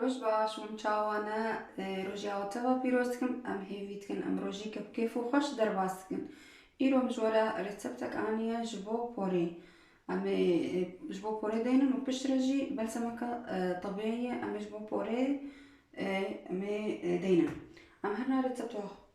Roj baş hûn çawa ne roja we teva pîroz dikim em hêvî dikin em rojêke bi kêf û xweş derbas dikin îro min ji we re rêceptek aniye ji bo porê em ê ji bo porê deynin û piştre jî belsemeke tebiyeyê em ê ji bo porê em ê deynin em her na rêcepta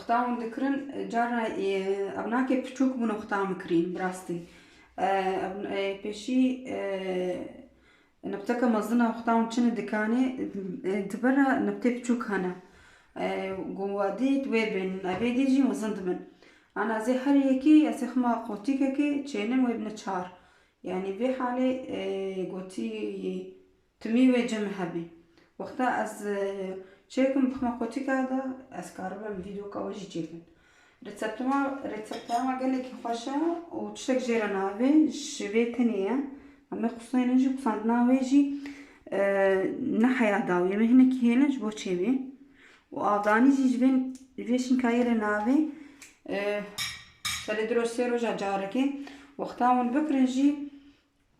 Xta hûn dikirin cara ev nake piçûk bûn û xta mikrîn bi rastî. Pêşî niqteke mezin a xta hûn çini dikanê di ber re niqtê piçûk hene. Wadî di wê bên ev ê dî jî mezin dibin. Ana ez ê her yekî ez ê xema qotîkekê çênim wê bine çar. Yanî vê halê gotî Timî wê cem hebî. Wexta ez çêkim bixme qotika de ez karibim vîdoka we jî çêkim. Rîtseptoma rîtseptoma gelekî xweş e û tiştek jê re navê ji vê tenê ye. Hemê quseyên in jî qusandina wê jî ne heya dawî em ê hinekî hêlin ji bo çêbî û avdanî jî ji vê ji vê şînkayê re navê selê du roj sê roja carekê. Wexta hûn bikirin jî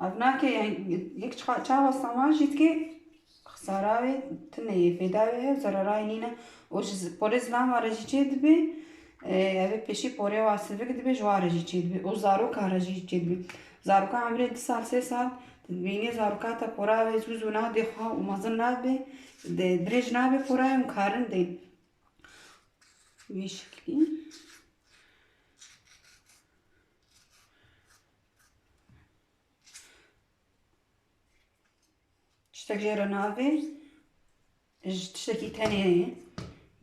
Ev nake yani yek çiqa çawa saman jî dike xesara wê tune yê fêda wê hev zerera wê nîne û ji porê zilam wa re jî çê dibe ev ê pêşî porê wa sivik dibe ji wan re jî çê dibe û zarokan re jî çê dibe zaroka emrê du sal sê sal tu dibînî zaroka te pora wê zû zû nade xwe û mezin nabe dirêj nabe pora wê û karin de wî şeklî Tiştek jê re navê ji tiştekî tenê ye.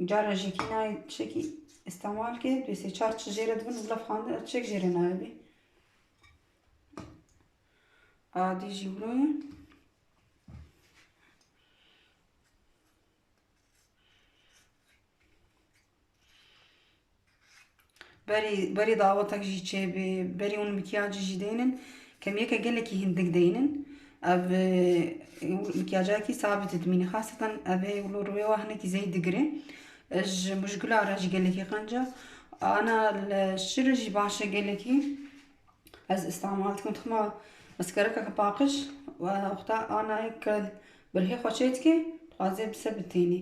Cara jêkî nayê tiştekî îstemal ke dê sê çar çi jê re dibin bila fandin ev tiştek jê re nayê bê. Adî jî wilo ye. Berî berî dawetek jî çêbê berî hûn mikyacî jî deynin kemiyeke gelekî hindik deynin ev mikyacakî sabit dimîne xaseten ev ê wilo rûyê wa hinekî zey digire ji mujgula re jî gelekî qenca ana li şir re jî baş e gelekî ez îstemal dikim dixima maskerekeke paqij wexta anayê ke birhê xwe çêdike dixwaze bi se bi tênî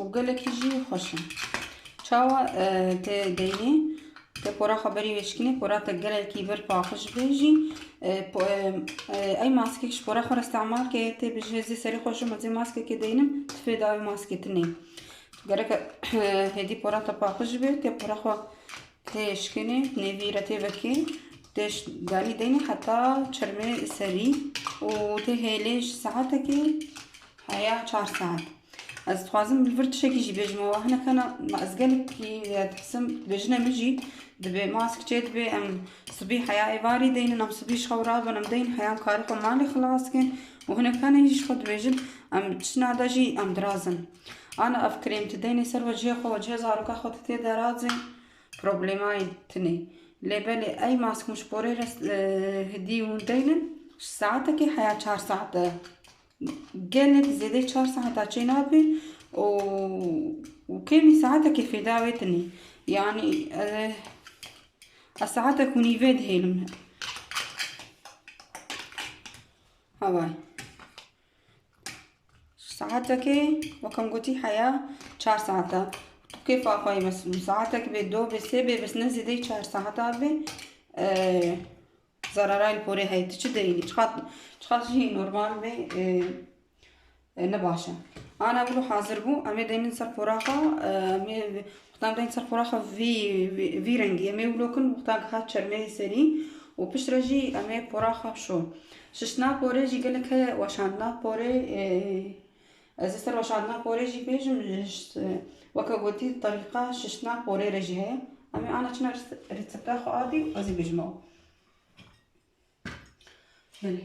û gelekî jî xweş in. Çawa e, te deynê te pora xwe berî vêşkinê pora te gelekî bir paqij bê jî e, e, ey maskek ji pora xwe re îstemal ke tê bi ji hêzê serê xwe ji min zê maskekê deynim tu fê dawî maskê tu neyê. Gereke hêdî pora te paqij bê te pora xwe Tê şikênê nêvî re tê vekê tê danî deynê heta çermê serî û tê hêlê ji saetekê heya çar saet. Ez dixwazim li vir tişekî jî bêjim û hineka na ma ez gelekî dihsim bi jina min jî dibê mask çê dibê em sibî heya êvarî deynin em sibî ji xwe wira bin em deyn heya em karê xwe malê xilas bikin û hineka na jî ji xwe dibêjin em çina de jî em dirazin. Ana ev krêm tu deynê ser wecihê xwe, wecihê zaroka xwe tu tê de razê problemayê tune. Lê belê ey mask muşporê re hidî hûn deynin ji saetekê heya çar saet e. Gelek zêdeyê çar saeta çê nabê û kêmî saetekê fêda wê tune. Yanî ez saetek û nîvê dihêlim. Havay. Saetekê wekem gotî heya çar saet e. Tu kêfa xwe yê bes saetek bê, do bê, sê bê bes ne zêdeyî çar saet a bê. Zarara li porê heye. Tu çi derînî? Çiqas çiqas jî normal bê ne baş e. Ana vilo hazir bû em ê deynin ser pora xwe em ê Wextan bên ser qoraxa vî vî rengî em ê wlokin, wextan ke hat çermeyê serî û pişt re jî em ê qoraxa şo. Şiştina porê jî gelek heye weşandina porê ez ê ser weşandina porê jî bêjim weke gotî terîqa şiştina porê re jî heye. Em ê ana çina resepta xwe a dî û ez ê bêjim ew. Belê.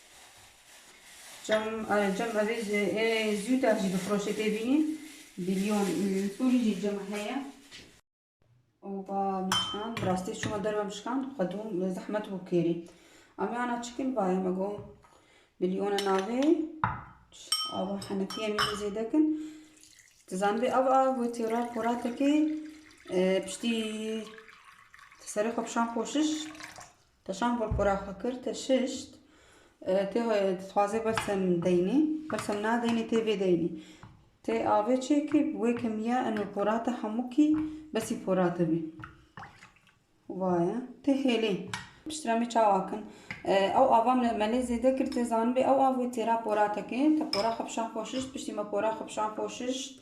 Cam cam evê ji ê zûda jî difiroşe tê bînîn bîlyon li Sûrî jî cam heye. Oba mişkan bi rastî çima derve mişkan xwedûm zehmet bû kêrî. Amê ana çikin bayê me got bîlyona navê ava henekî em jî zêde kin. Tu zanibê ev a gotî raporatekê piştî serê xwe pişan koşiş Teşan bolkora xwe kir, teşişt. Tê dixwaze bersem deynê, bersem nadeynê tê vê deynê. Tê avê çêkê wê kemiya eno porate hemû kî besî porate bî. Vaye tê hêlê. Piştre me çawa kin? Ew ava me lê zêde kir tê zanibê ew av wê têra porate kê. Te pora xwe pişan xwe şişt, piştî me pora xwe pişan xwe şişt.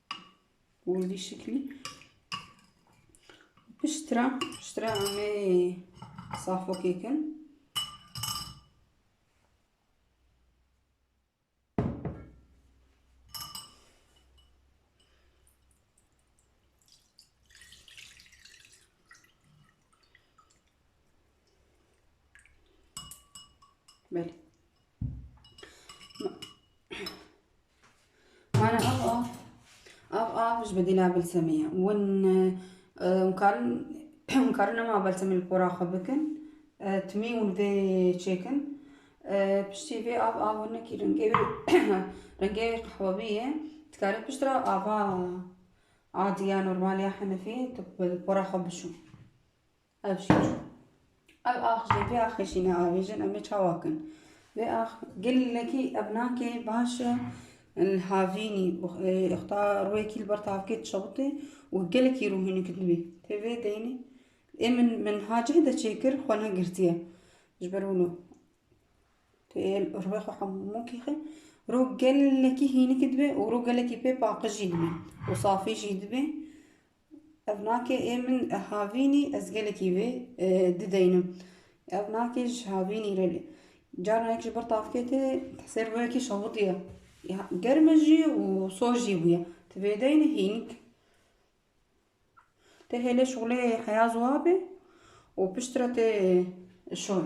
Wendî şiklî piştra piştra amê safokê kin Belê. Mane av av av av ji bedîla bilsemê ye hûn hûn karin hûn karin nema belsemê li pora xwe bikin timî hûn vê çêkin piştî vê av av nekî rengê wî rengê wî qehwebî ye dikarî piştre ava adî ya normal ya henefî tu li pora xwe bişo. Ev jî çû. Ev ax jî vê axê jî neavêjin em ê çawa kin? Vê ax gelekî evnakê baş e li havînî û xta rûyekî li ber tavkê dişewitê û gelekî rûhînik dibî. Tê vê deynê ê min min ha cih de çêkir xwe negirtiye. Ji ber wilo tê rûyê xwe hemû kixin rû gelekî hînik dibe û rû gelekî pê paqij jî dibe û safî jî dibe Ev nakê ê min havînî ez gelekî vê dideynim. Ev nakê ji havînî re lê carna yek ji bir tavkê tê ser wê yekî şewitiye. Germe jî û soz jî bûye. Ti vê deyne hînik. Tê hêlê şolê heya ziwa bê û piştre tê şon.